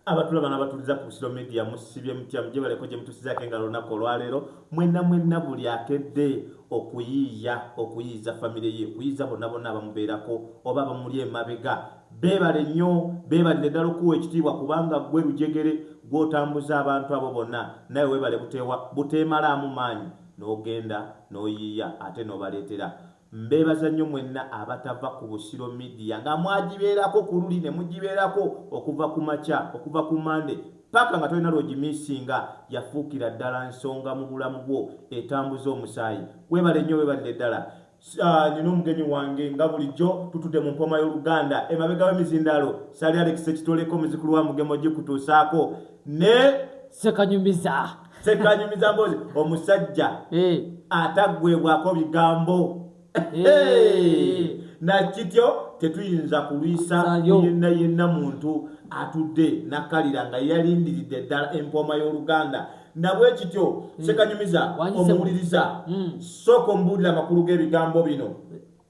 abatula bana batuliza ku busiro media musibye mutya mujebaleko gye mutusizako engalo olunaku olwaleero mwenna mwenna buli akedde okuyiiya okuyiiza famire ye okuyiiza bonna bonna abamubeerako oba abamuli emabega beebale nnyo beebalire ddala okuwa ekitiibwa kubanga gwe lujegere gw'otambuza abantu abo bonna naye weebale buteewa buteemalaamu maanyi n'ogenda n'oyiiya ate n'obaleetera Mbeebaza nnyo mwenna abatava ku Busiro Media nga mwagibeerako ku luli ne mugibeerako okuva ku makya, okuva ku Monday paka nga tolina lw'ogimiisinga, yafuukira ddala nsonga mu bulamu bwo etambuza omusaayi. Weebale nnyo weebalire ddala. Nnina omugenyi wange nga bulijjo tutudde mu mpooma y'oluganda. Emabega w'emizindaalo Ssali Alex Ssekitoleko, Muzzukulu wa Mugema ogikutuusaako ne. Ssekanyumiza. sekanyumiza mbozi omusajja eh. ataggwebwako bigambo eh. nakityo tetuyinza kulwisa yenna yenna muntu atudde nakalira nga yalindiridde ddala empooma y'oluganda nabwe kityo hmm. sekanyumiza omuwuliriza hmm. sooka omubuulira amakulu g'ebigambo bino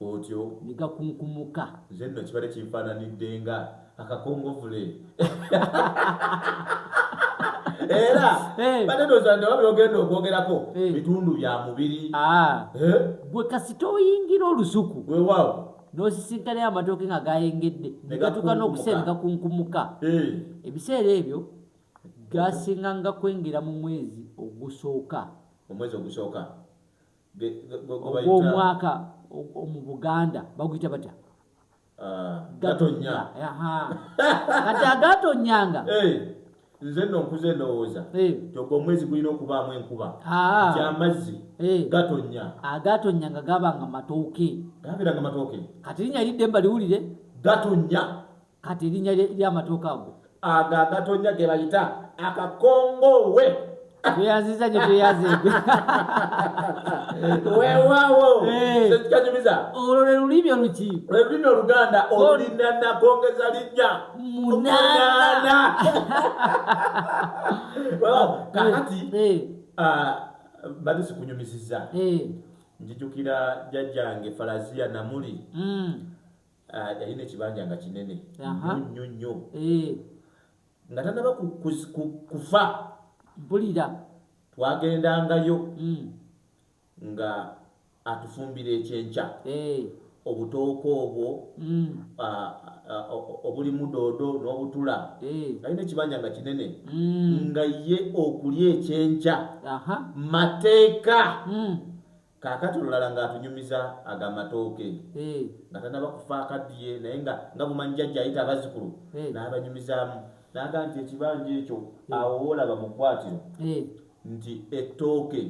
Otyo. Ne gakunkumuka. Nze nno kibadde kinfaananidde nga akakongovule. era eh. banedoza nti oba byogenda okwogerako eh. bitundu bya mubiri ah. eh? gwe kasita oyingira olusuku wewawo n'osisinkanayo amatooke nga gayengedde negatuka n'okuseera negakunkumuka ebiseera ebyo gasinga nga kwengera mu mwezi ogusooka omwezi ogusooka ogwomwaka mu buganda baguyita batya ah, gatonya kati agatonyanga nze no nkuze ndowooza eh. ntoga omwezi gulina okubaamu enkuba ah. nti amazzi eh. gatonya agatonya ah, nga gabanga matooke gabeeranga matooke kati linya lidde mba liwulire gatonya kati erinnya ly'amatooke ago ago agatonnya ge bayita akakongoowe tweyanziza nyo tweyanzegwe wewawo eh. kyekikanyumiza olwo lwe lulimi oluki lwe lulimi oluganda olulina nagongeza linnya munana kakati eh. eh. ah, bali sikunyumisiza njijukira jajjange falaziya namuli mm. Ah, yalina ekibanja nga kinene nyo nyo eh. nga tanaba kufa bulira twagendangayo hmm. nga atufumbira ekyenkya eh. obutooka obwo hmm. ah, ah, obulimu doodo n'obutula eh. alina ekibanja nga kinene hmm. nga ye okulya ekyenkya mateeka Kakati olulala nga atunyumiza ago amatooke nga tanaba kufa akadiye naye nga nga bumanyi jajja ayita abazukulu nabanyumizamu naga nti ekibanja ekyo awo wolaba mukwatiro nti ettooke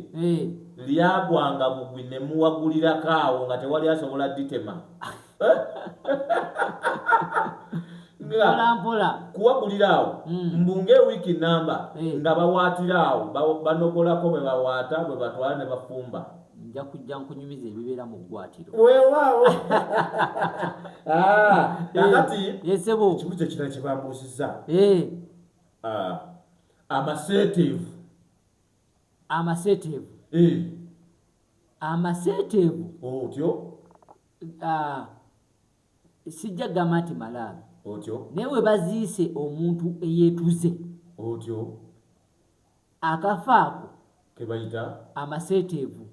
lyagwanga bugwi nemuwagulirako awo nga tewali asobola ditema kuwagulira awo hmm. mbunga ewiiki namba eh. nga bawaatira awo banogolako bwe bawaata bwe batwala ne bafumba nja kujja nkunyumiza ebibeera mu ggwatiro weewaawo ah, kakati yesebo eh, ekibuzo ekirala kye bambuusiza eh. ah, amaseeteevu amaseeteevu amaseeteevu oh, otyo Ah, sijja kugamba nti malaalo otyo naye we baziise omuntu eyeetuze otyo akafa ako ke bayita amaseeteevu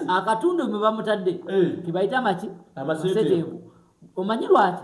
akatundu mwe bamutadde ke bayita amaki amaseeteevu omanyi lwaki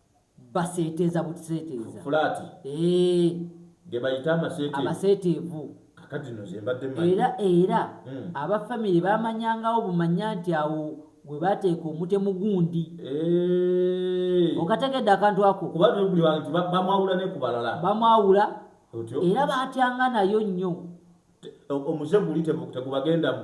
baseeteeza buseeteeza fulaati eh. ge bayita amaseeteevu era era hmm. abafamire bamanyangawo bumanya nti awo gwe bateeka omutemu gundi eh. okategedde akantu ako bamwawula era batyanga nayo nnyo omuze guli tegubagendamu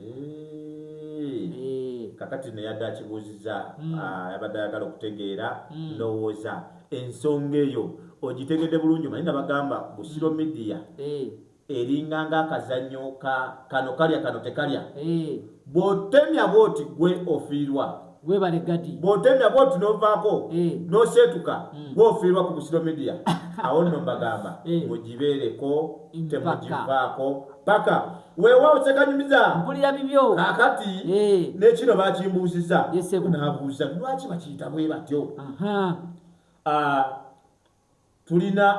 Eh. kakati neyadde akibuuziza mm. ah, yabadde ayagala okutegeera mm. ndowooza ensonga eyo ogitegedde bulungi manye nabagamba busiro mm. midiya eh. eringa nga akazanyo kano kalya kano tekalya bwotemya bwoti gwe ofiirwa Webale gadi. Bwotemya bwoti novaako eh. noseetuka mm. gwofiirwa ku busiro media awo nno mbagamba eh. mugibeereko temugivaako paka weewaawo sekanyumiza mpulira bibyo kakati eh. nekino bakimbuuziza nabuuza lwaki bakiyita bwe batyo ah, tulina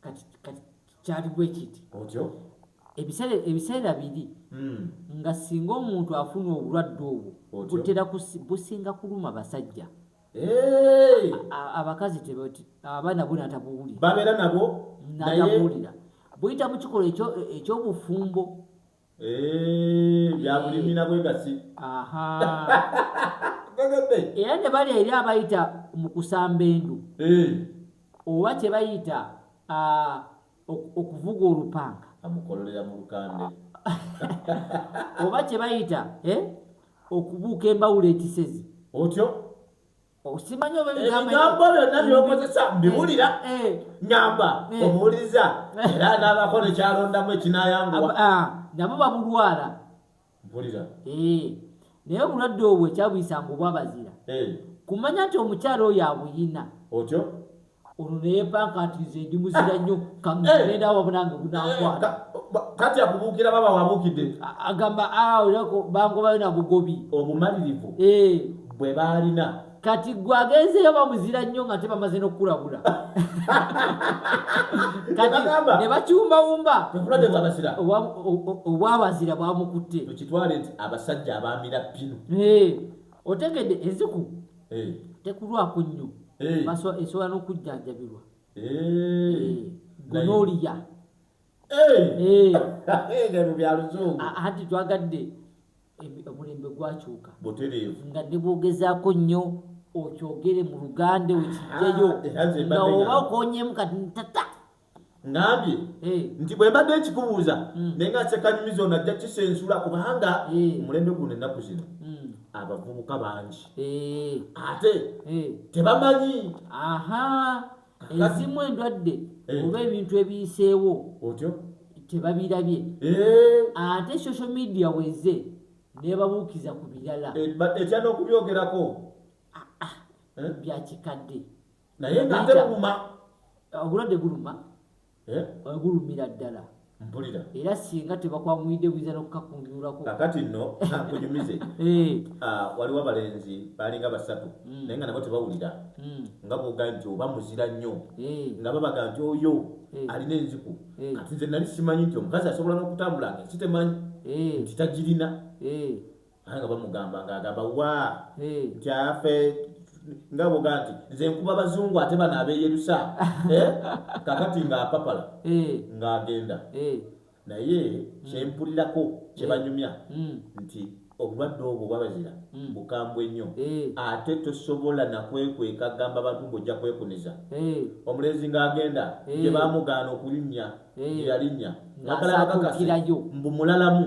kati kati kyali bwe kiti otyo ebiseera ebiseera biri hmm. nga singa omuntu afuna obulwadde obwo butera businga kuluma basajja abakazi abaana bona tabuwulira babeera nabo natabuwulira buyita mu kikolwa eky'obufumbo Eh, byabulimi na bwegasi era ne bali eri abayita mu kusamba endu eh. oba kye bayita okuvuga olupanga amukololera mu lukande oba kye bayita eh, okubuuka embawula ekisezi otyo osimanyi oba ebigambo byonna byokozesa mbiwulira nyamba omuwuliriza era naabako nekyalondamu ekinayanguwa ah, nabo babulwala mpulira naye obulwadde obwo ekyabuyisanga obwabazira kumanya nti omukyala oyo abuyina otyo olwo naye banka nti nze ndi muzira nnyo kagenda wabona nga gunankwata kati akubuukira baba wabuukidde agamba aolako bangobayo na bugobi obumalirivu bwe baalina kati gwe agenzeyo bamuzira nnyo nga te bamaze n'okukulabula kati ne bakiwumbawumba obwabazira bwamukutte okitwale nti abasajja abamira pinu otegedde eziku eh. tekulwako nnyo eh. esobola n'okujjanjabirwa eh. gonoliya anti twagadde omulembe gwakyuka nga ne bwogezaako nnyo okyogere mu luganda okijjayo ah, nga oba okonyemu kati ntata ngambye eh. nti bwe mbadde nkikubuuza hmm. naye nga sekanyumiza ono ajja kisensula kubanga eh. omulembe guno ennaku zino hmm. abavubuka bangi eh. ate tebamanyi ezimu endwadde oba ebintu ebiyiseewo otyo tebabirabye ate social media weze nebabuukiza ku birala etya n'okubyogerako ah, ah. byakikadde naye ng'ataluma obulwadde guluma eh? gulumira ddala mpulira era singa tebakwanguyidde buyinza nokukakunjulako kakati nno nkunyumize eh. ah, waliwo abalenzi balinga basatu hmm. naye nga nabo tebawulira hmm. nga boga nti oba muzira nnyo eh. nga babaga nti oyo alina enziku kati nze nali simanyi nti omukazi asobola n'okutambula nga ensitemanyi nti tagirina Ate nga bamugamba nga agamba wa kyafe nga boga nti nze nkuba bazungu ate bano abeyerusa eh? kakati nga apapala eh. nga agenda eh. naye mm. kyempulirako kyebanyumya mm. nti obulwadde obwo bwabazira mm. bukambwe nnyo ate tosobola nakwekweka gamba bantu ngaojja kwekuniza omulenzi nga agenda gyebamugaana okulinnya gyeyalinnya nakalabakakasi mbu mulalamu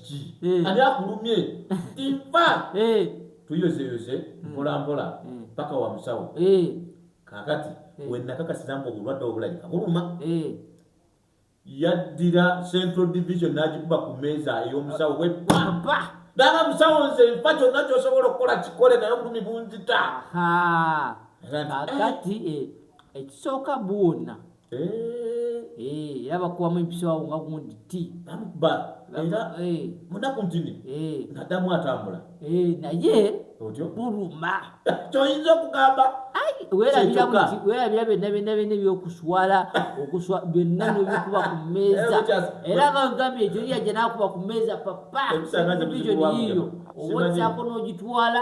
eh. ani akulumye nfa eh. tuyozeyoze hmm. mpolampola hmm. paka wa musawo eh. kakati wenakakasiza nga obulwadde obulabika buluma yaddira central division n'agikuba ku meeza ey'omusawo we pampa dala musawo nze nfa kyonna kyosobola okukola kikole naye obulumi bunzita kakati ekisooka buwonna Eh. Eh, era bakubamu empiso awo nga gundi ti bamukuba era eh. munaku ntini nadamu atambula naye otyo buluma kyoyinza okugamba werabira byonna byonna byonna ebyokuswala okuswa byonna nobikuba ku mmeeza era bagambye ekyo yajja nakuba ku mmeeza papa vision yiyo owozaako n'ogitwala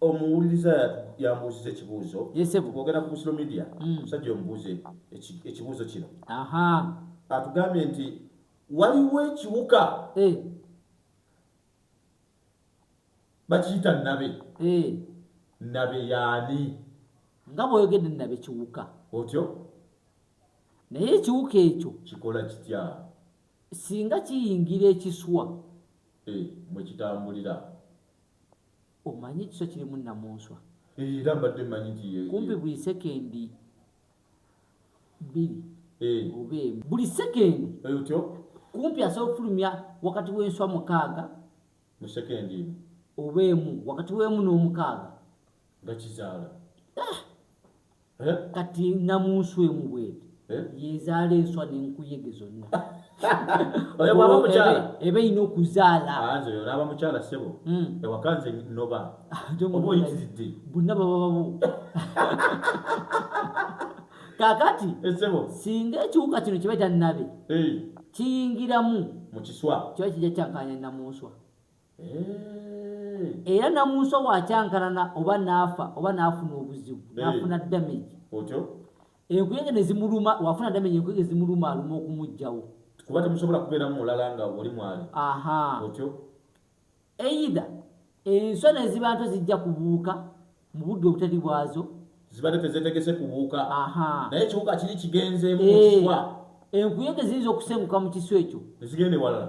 omuwuliriza yambuuziza ekibuuzo ogenda ku busiro media mm. musajja omubuuze ekibuuzo kino atugambye nti waliwo ekiwuka eh. bakiyita nabe eh. nabe yaani nga bwoyogedde nabe kiwuka otyo naye ekiwuka ekyo kikola kitya singa kiyingira ekiswa eh, mwekitambulira Omanyi ekiso kirimu nnamunswa. Eeh era mbadde mmanyi nti ye. Kumpi buli sekendi bbiri Eeh. oba emu. Buli sekendi. Eeh otyo? Kumpi asobola okufulumya wakati w'enswa mukaaga. Mu sekendi emu. Oba emu, wakati w'emu n'omukaaga. gakizaala ah! eh? kati namunswa emu bwete eh? yezaala enswa nenkuyege zonna eba erina okuzaala olaba mukyala sebo hmm. ewakanze noba oba oyitiridde bonna baba babo kakati eh, singa ekiwuka kino kiba kyannabe kiyingiramu mukiswa kiba kijja kyankanya namunswa era namunso wakyankalana oba naafa oba naafuna obuzibu naafuna damage enkuyege nezimuluma wafuna damage enkuyege zimuluma aluma okumugjawo kuba temusobola kubeeramu mulala nga oli mwali aha otyo eida enswa neziba nto zijja kubuuka mu budde obutali bwazo zibadde tezetegese kubuuka aha naye ekiwuka kiri kigenzeemu mukiswa eh, enkuyege ziyinza okusenguka mu kiswa ekyo nezigenda ewalala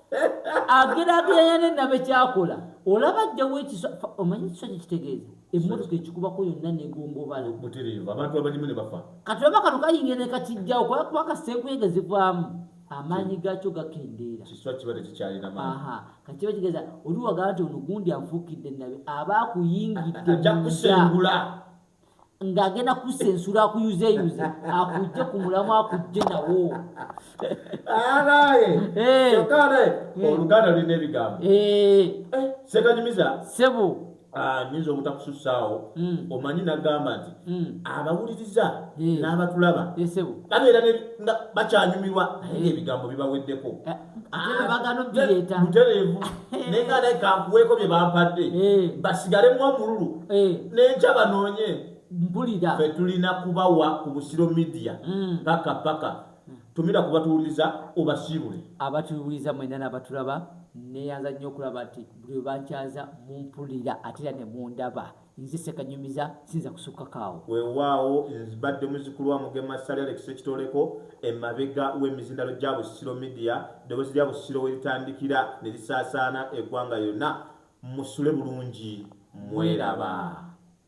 ageraageranya ne nabe kyakola olaba ajjawo ekiso omanyi ekiso kye kitegeeza emmotoka ekikubako yonna negombobala kati oba kano kayingira ne kakijjawo kuba kasenkuyege zivaamu amaanyi gaakyo gakendeera kati kiba kitegeeza oliwagala nti ono gundi afuukidde nabe aba akuyingidde ng'agenda kusensula akuyuzeyuze akujje ku mulamu akujje nawo alaye eh. kyokale eh. oluganda lulina ebigambo eh. sekanyumiza sebo ah, nyinza obutakususaawo hmm. omanyi nagamba nti hmm. abawuliriza n'abatulaba babeera bakyanyumirwa naye ebigambo bibaweddeko mutereevu naye nga naye kankuweeko bye bampadde eh. basigalemu omululu eh. nenkya banoonye mpulira fe tulina kubawa ku busiro midiya hmm. paka paka tumira kubatuwuliza obasiibule abatuwuliza mwena nabatulaba neyanza nnyo okulaba nti buli webankyaza mumpulira ate era ne mundaba Nze Ssekanyumiza siyinza kusukkako awo. Weewaawo mbadde muzzukulu wa Mugema Ssali Alex Ssekitooleko, emabega w'emizindalo gya Busiro Media, eddoboozi lya Busiro we litandikira ne lisaasaana eggwanga lyonna. Musule bulungi mweraba.